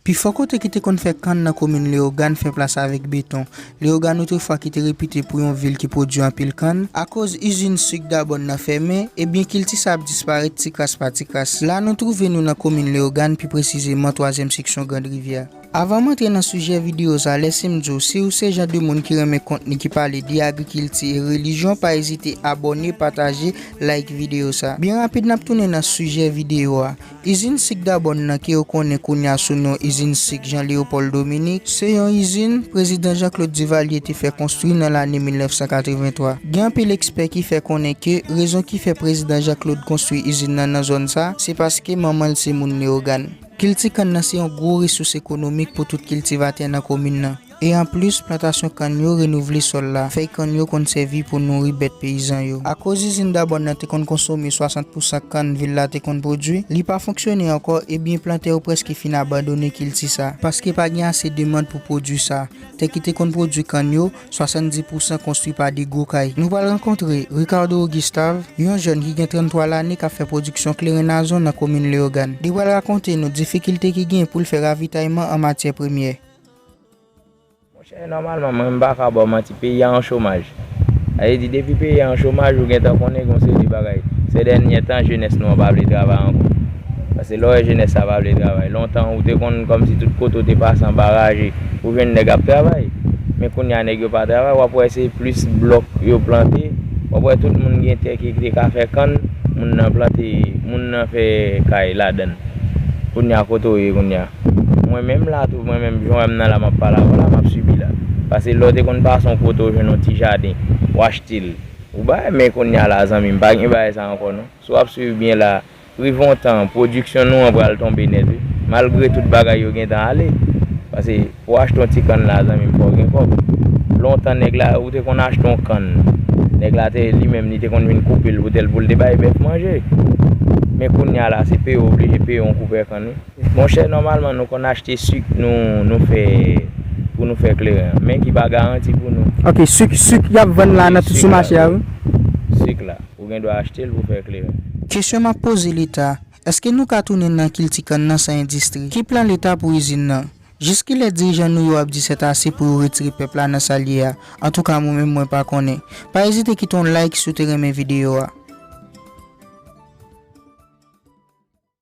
Pi fò kote ki te konn fè kann nan komin Leyogàn fè plas avèk beton. Leyogàn outrefwa ki te repite pou yon vil ki pwodui anpil kann, akoz izin suk Dabòn nan fèmen, ebyen kilti sa ap disparèt ti kras pa ti kras. La nou twouve nou nan komin Leyogàn, pi presizeman twazyèm seksyon Grand Rivyè. Avan m antre nan sijè videyo sa, lèse m di w, si w se jan de moun ki renmen kontni ki pale de agrikilti e relijyon, pa ezite abòne, pataje, like videyo sa. Byen rapid n ap tounen nan sijè videyo a. Izin sik Dabòn nan ke yo konnen kounye a sou non Izin Sik Jean Léopold Dominique, se yon izin Prezidan Jean Claude Duvalier te fè konstwi nan lane 1983. Gen anpil ekspè ki fè konnen ke rezon ki fè Prezidan Jean Claude konstwi izin nan nan zòn sa, se paske manman l se moun Leyogàn. Kilti kann nan se yon gwo resous ekonomik pou tout kiltivatè nan komin nan. E anplis, plantasyon kann yo renouvle sòl la. Fèy kann yo konn sèvi pou nouri bèt peyizan yo. Akoz izin Dabòn nan te konn konsome 60 pousan kann vil la te konn pwodui, li pa fonksyone ankò e byen plantè yo prèske fin abandone kilti sa. Paske pa gen ase demand pou pwodui sa, tè ki te konn pwodui kann yo, 70 pousan konstwi pa de gwo kay. Nou pral rankontre Ricardo Augustav, yon jèn ki gen 33 lane k ap fè pwodiksyon kleren nazon nan komin Leyogàn. Li pral rakonte nou difikilte ki gen pou l fè ravitayman an matyè premyè. Monchè nòmalman mwen m pa ka ba w manti peyi a an chomaj. Sa vle di depi peyi a an chomaj ou gentan konnen gen yon seri de bagay. Sè dènyè tan jenès nou an pa vle travay ankò. Pase lè w wè jenès sa pa vle travay. Lontan ou te konn kòmsi tout kote ou te pase anba raje ou jwenn nèg ap travay. Men kounye a nèg yo pa travay w ap wè se plis blòk yo plante. W ap wè tout moun gen tè ki te ka fè kann moun nan plante moun nan fè kay ladan l. Kounye a kote w ye kounye a? Mwen menm la tou, mwen menm jan wè m nan la m ap pale avè w la, m ap sibi la. Pase lè w te konn pase yon kote w jwenn yon ti jaden, w achte l, ou bay men kounye a la zanmi m pa gen bagay sa ankò non. Si w ap suiv byen la, rive yon tan, pwodiksyon nou an pral tonbe nèt wi. Malgre tout bagay yo gen tan ale. Pase pou w achte yon ti kann la zanmi m fò w gen kòb. Lontan nèg la, ou te konn achte yon kann, nèg la te li menm li te konn vin koupe l pou te l pou l te bay bèf manje. Men kounye a la se peye w oblije peye yon koupè kann wi. Monchè nòmalman nou konn achte suk nou nou fè pou nou fè kleren an men ki pa garanti pou nou. Ok suk suk yap vann la nan sou mache a wi. Suk la ou gen dwa achte l pou fè kleren. Kesyon map poze leta, eske nou ka tounen nan kilti kann nan san endistri? Ki plan leta pou izin nan? Jis kilè dirijan nou yo ap di sètase pou yo retire pèp la nan sal ye a? Antouka mwen menm mwen pa konnen. Pa ezite kite yon like si w te renmen videyo a.